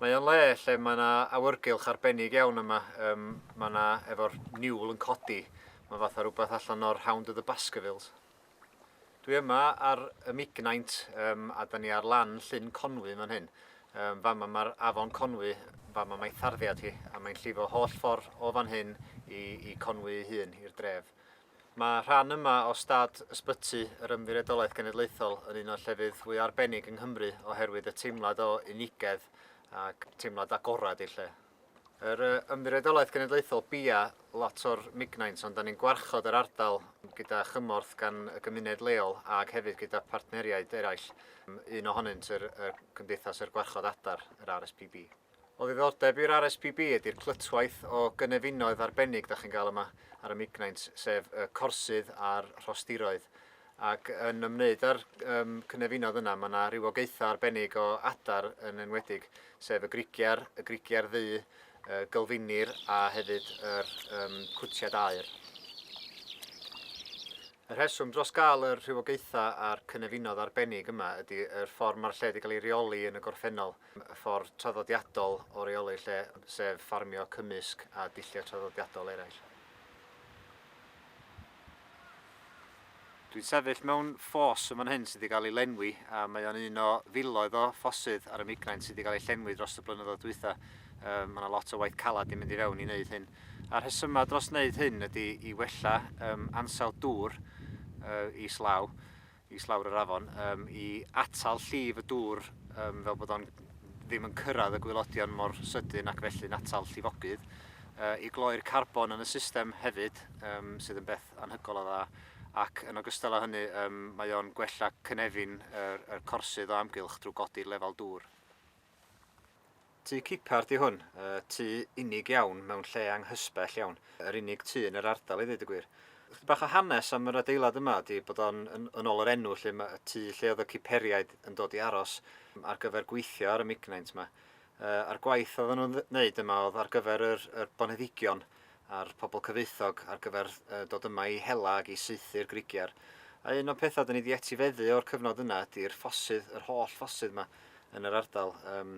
Mae o'n le lle mae 'na awyrgylch arbennig iawn yma, um, mae 'na efo'r niwl yn codi, mae fatha rhywbeth allan o'r Hound of the Baskervilles. Dwi yma ar y Mignaint um, a da ni ar lan Llyn Conwy fan hyn. Um, fama mae'r afon Conwy, fama mae tharddiad hi, a mae'n llifo holl ffordd o fan hyn i, i Conwy ei hun, i'r dref. Mae rhan yma o stad Ysbyty yr Ymddiriedolaeth Genedlaethol yn un o'r llefydd fwy arbennig yng Nghymru oherwydd y teimlad o unigedd ac teimlad agored i'r lle. Yr Ymddiriedolaeth Genedlaethol bia lot o'r mignaint ond da ni'n gwarchod yr ardal gyda chymorth gan y gymuned leol ac hefyd gyda partneriaid eraill, un ohonynt yr, y Cymdeithas yr Gwarchod Adar, yr RSPB. O ddiddordeb i'r RSPB ydi'r clytwaith o gynefinoedd arbennig da chi'n gael yma ar y Mignaint, sef y corsydd a'r rhostiroedd. Ac yn ymwneud â'r um, cynefinoedd yna, mae yna rhywogaethau arbennig o adar yn enwedig, sef y grigiar, y grigiar ddu, y gylfinir a hefyd yr um, cwtiad aer. Y rheswm dros gael yr rhywogaethau a'r cynefinoedd arbennig yma ydy yr ffordd mae'r lle wedi cael ei reoli yn y gorffennol – y ffordd traddodiadol o reoli'r lle, sef ffarmio cymysg a dulliau traddodiadol eraill. Dwi'n sefyll mewn ffos yn fan hyn sydd wedi cael ei lenwi a mae o'n un o filoedd o ffosydd ar y Migraine sydd wedi cael ei llenwi dros y blynyddoedd dwytha. Um, mae yna lot o waith calad i mynd i fewn i wneud hyn. A'r rhesymau dros wneud hyn ydy i wella um, ansawdd dŵr uh, islaw. islawr yr afon um, i atal llif y dŵr um, fel bod o'n ddim yn cyrraedd y gwylodion mor sydyn ac felly'n atal llifogydd, uh, i gloi'r carbon yn y system hefyd, um, sydd yn beth anhygol o dda, ac yn ogystal â hynny um, mae o'n gwella cynefin yr, yr corsydd o amgylch drwy godi lefel dŵr. Tŷ Cipard yw hwn, y tŷ unig iawn mewn lle anghysbell iawn, yr unig tŷ yn yr ardal i ddeud y gwir. Chydig bach o hanes am yr adeilad yma ydy bod o'n, yn ôl yr enw 'lly, y tŷ lle oedd y Ciperiaid yn dod i aros ar gyfer gweithio ar y mignaint 'ma. A'r gwaith oedden nhw'n wneud yma oedd ar gyfer yr boneddigion a'r pobl cyfoethog ar gyfer dod yma i hela ac i saethu'r Grigiar. A un o'n pethau dyn ni wedi etifeddu o'r cyfnod yna ydy'r ffosydd, yr holl ffosydd yma yn yr ardal. Yym,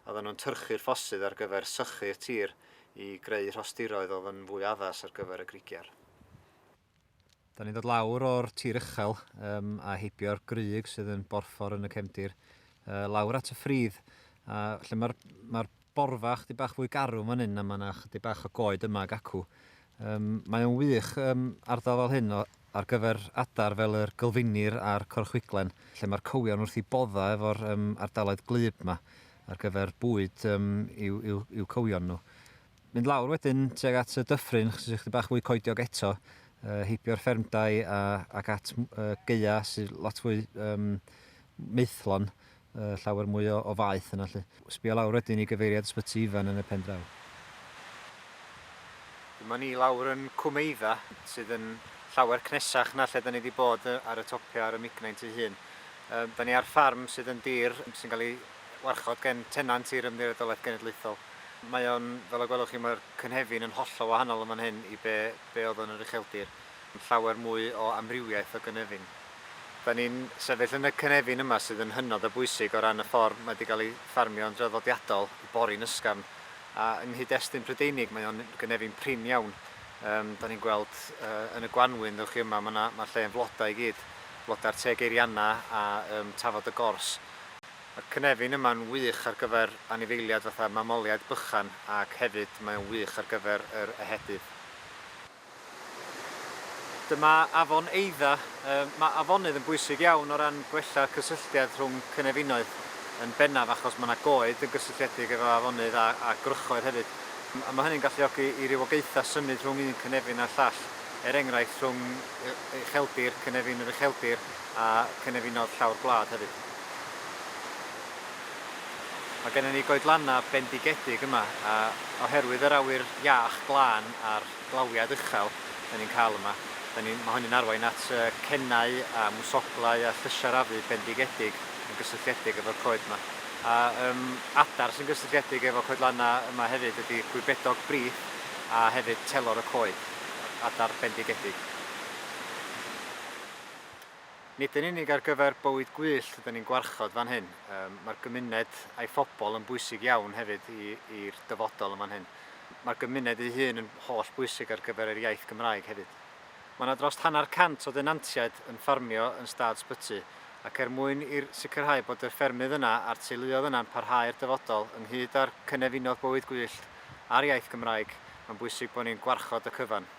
oedden nhw'n tyrchu'r ffosydd ar gyfer sychu'r tir i greu rhostiroedd oedd yn fwy addas ar gyfer y Grigiar. Da ni'n dod lawr o'r tir uchel um, a heibio'r grug sydd yn borffor yn y cefndir, uh, lawr at y ffridd, a lle mae'r ma borfa chdi bach fwy garw fan hyn a mae yna chdi bach o goed yma ag acw. Um, mae o'n wych um, ardal fel hyn o, ar gyfer adar fel yr gylfinir a'r corchwiglen, lle mae'r cywion wrth i bodda efo'r um, ardaloedd glib yma ar gyfer bwyd um, i'w, i'w, i'w cywion nhw. Mynd lawr wedyn tuag at y dyffryn, chos ychydig bach fwy coediog eto, uh, heibio'r ffermdau a, ac at uh, geia sy'n lot fwy um, meithlon, uh, llawer mwy o, o faeth yna. Lle. Sbio lawr wedyn i gyfeiriad ysbyty Ifan yn y pen draw. Dyma ni lawr yn Cwmeidda, sydd yn llawer cnesach na lle da ni wedi bod ar y topiau ar y Mignaint ei hun. Um, da ni ar ffarm sydd yn dir sy'n cael ei warchod gen tenant i'r Ymddiriedolaeth Genedlaethol. Mae o'n, fel y gwelwch chi, mae'r cynefin yn hollol wahanol yn fan hyn i be, be oedd yn yr ucheldir. Mae'n llawer mwy o amrywiaeth o gynefin. Da ni'n sefyll yn y cynefin yma sydd yn hynod o bwysig o ran y ffordd mae wedi cael ei ffarmio yn draddodiadol, y borin ysgafn, a yng nghyd-destun Prydeinig mae o'n gynefin prin iawn. Um, da ni'n gweld uh, yn y gwanwyn, ddewch chi yma, mae'r ma lle yn flodau i gyd, flodau'r teg eirianna a um, tafod y gors. Mae'r cynefin yma'n wych ar gyfer anifeiliaid fatha mamoliaid bychan ac hefyd mae o'n wych ar gyfer yr ehedydd. Dyma afon Eidda. Mae afonydd yn bwysig iawn o ran gwella cysylltiad rhwng cynefinoedd, yn bennaf achos mae yna goed yn gysylltiedig efo afonydd a a gwrychoedd hefyd, a mae hynny'n galluogi i rywogaethau symud rhwng un cynefin a'r llall, er enghraifft rhwng ucheldir cynefin yr ucheldir a cynefinoedd llawr gwlad hefyd. Mae gennym ni goedlannau bendigedig yma a oherwydd yr awyr iach, glân a'r glawiad uchel dan ni'n cael yma, dan ni, mae hynny'n arwain at cennau a mwsoglau a llysiarafu bendigedig yn gysylltiedig efo'r coed yma. A um, adar sy'n gysylltiedig efo coedlannau yma hefyd ydy gwybedog brith a hefyd telor y coed, adar bendigedig. Nid yn unig ar gyfer bywyd gwyllt ydyn ni'n gwarchod fan hyn, mae'r gymuned a'i phobl yn bwysig iawn hefyd i'r dyfodol yn fan hyn. Mae'r gymuned ei hun yn holl bwysig ar gyfer yr iaith Gymraeg hefyd. Mae yna dros hanner cant o denantiaid yn ffarmio yn stad Sbyty ac er mwyn i'r sicrhau bod y ffermydd yna a'r teuluoedd yna'n parhau i'r dyfodol ynghyd â'r cynefinoedd bywyd gwyllt a'r iaith Gymraeg mae'n bwysig bod ni'n gwarchod y cyfan.